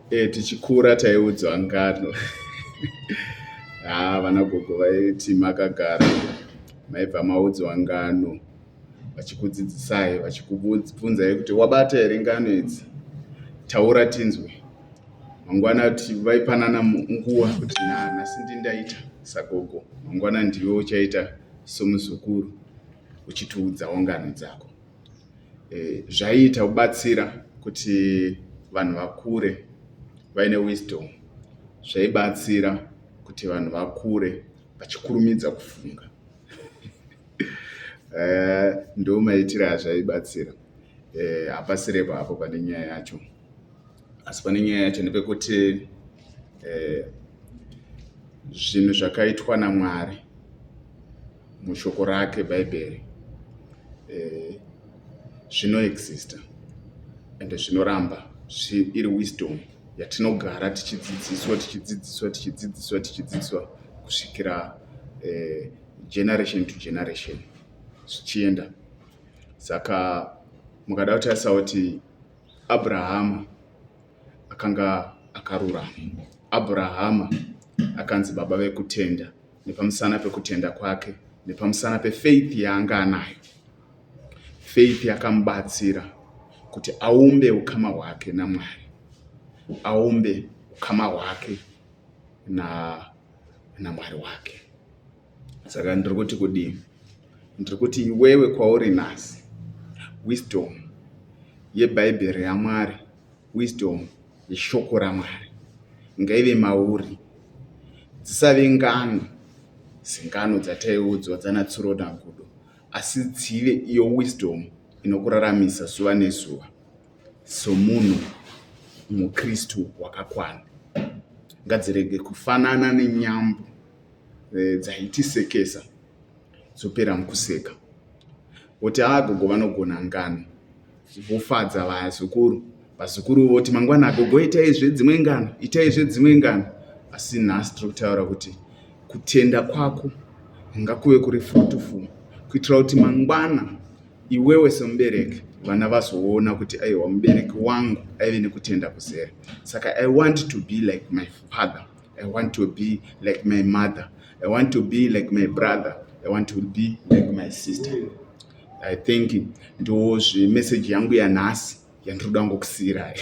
Eh, tichikura taiudzwa ngano haa vana gogo vaiti makagara maibva maudzwa ngano vachikudzidzisai vachikubvunzai kuti wabata here ngano idzi taura tinzwe mangwana ti vaipanana nguva kuti nhasi ndindaita sagogo mangwana ndiwe uchaita somuzukuru uchitiudzawo ngano dzako zvaiita kubatsira kuti vanhu vakure vaine wisdom zvaibatsira kuti vanhu vakure vachikurumidza kufunga eh, ndo maitire azvaibatsira eh, hapasirepo hapo pane nyaya yacho asi pane nyaya yacho nepekuti eh, zvinhu zvakaitwa namwari mushoko rake bhaibheri eh, zvinoexista ende zvinoramba iri wisdom yatinogara tichidzidziswa tichidzidziswa tichidzidziswa tichidzidziswa kusvikira eh, generation to generation zvichienda saka mukada kutarisa kuti abrahama akanga akarurama abrahama akanzi baba vekutenda nepamusana pekutenda kwake nepamusana pefaith yaanga anayo faith yakamubatsira kuti aumbe ukama hwake namwari aumbe ukama hwake na namwari wake saka ndiri kuti kudii ndiri kuti iwewe kwauri nhasi wisdom yebhaibheri yamwari wisdom yeshoko raMwari ngaive mauri. Dzisave ngano sengano dzataiudzwa dzanaTsuro naGudo asi dzive iyo wisdom inokuraramisa zuva nezuva somunhu muKristu wakakwana. Ngadzirege kufanana nenyambo eh, dzaitisekesa dzopera mukuseka. Woti haa gogo vanogona ngano. Vofadza vazukuru, vazukuru voti mangwana agogo itaizve dzimwe ngano, itaizve dzimwe ngano. Asi nhasi tiri kutaura kuti kutenda kwako ngakuve kuri fruitful kuitira kuti mangwana iwewe semubereki vana vazoona kuti aiwa mubereki wangu aive nekutenda kuzere saka i want to be like my father i want to be like my mother i want to be like my brother i want to be like my sister I think ndo zve message yangu yanhasi yandiri kuda ngokusiirai.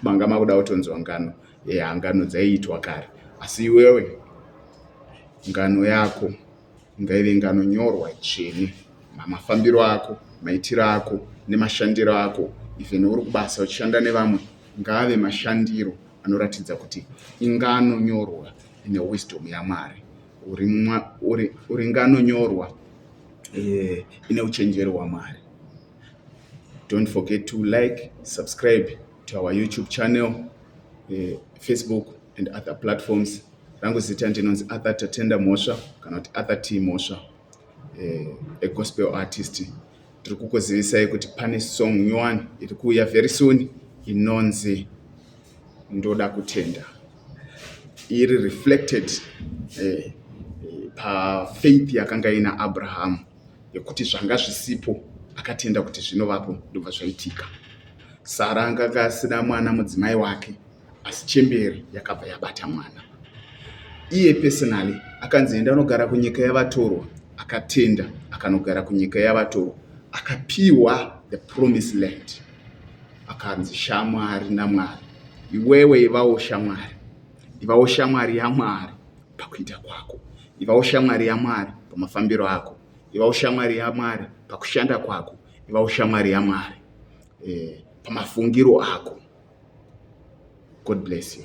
Manga makuda kutonzwa ngano. Yeah, ngano dzaiitwa kare. Asi iwewe ngano yako ngaive ngano nyorwa chene. Mafambiro ako, maitiro ako nemashandiro ako even uri kubasa uchishanda nevamwe ngaave mashandiro anoratidza kuti ingano nyorwa ine wisdom yaMwari. uri ngano nyorwa eh, ine uchenjeri hwamwari don't forget to like subscribe to our youtube channel eh, facebook and other platforms rangu zita ndinonzi arthur tatenda mhosva kana kuti arthur t mhosva eh, a gospel artist tiri kukuzivisai kuti pane song nyowani iri kuuya very soon inonzi ndoda kutenda iri reflected eh, pafaith yakanga ina abrahamu yekuti zvanga zvisipo akatenda kuti zvinovapo ndobva zvaitika sara anganga asina mwana mudzimai wake asi chemberi yakabva yabata mwana iye personally akanzi enda anogara kunyika yavatorwa akatenda akanogara kunyika yavatorwa akapiwa the promise land akanzi shamwari namwari iwewe ivawo shamwari ivawo shamwari yamwari pakuita kwako ivawo shamwari yamwari pamafambiro ako ivawo shamwari yamwari pakushanda kwako ivawo shamwari yamwari eh, pamafungiro ako god bless you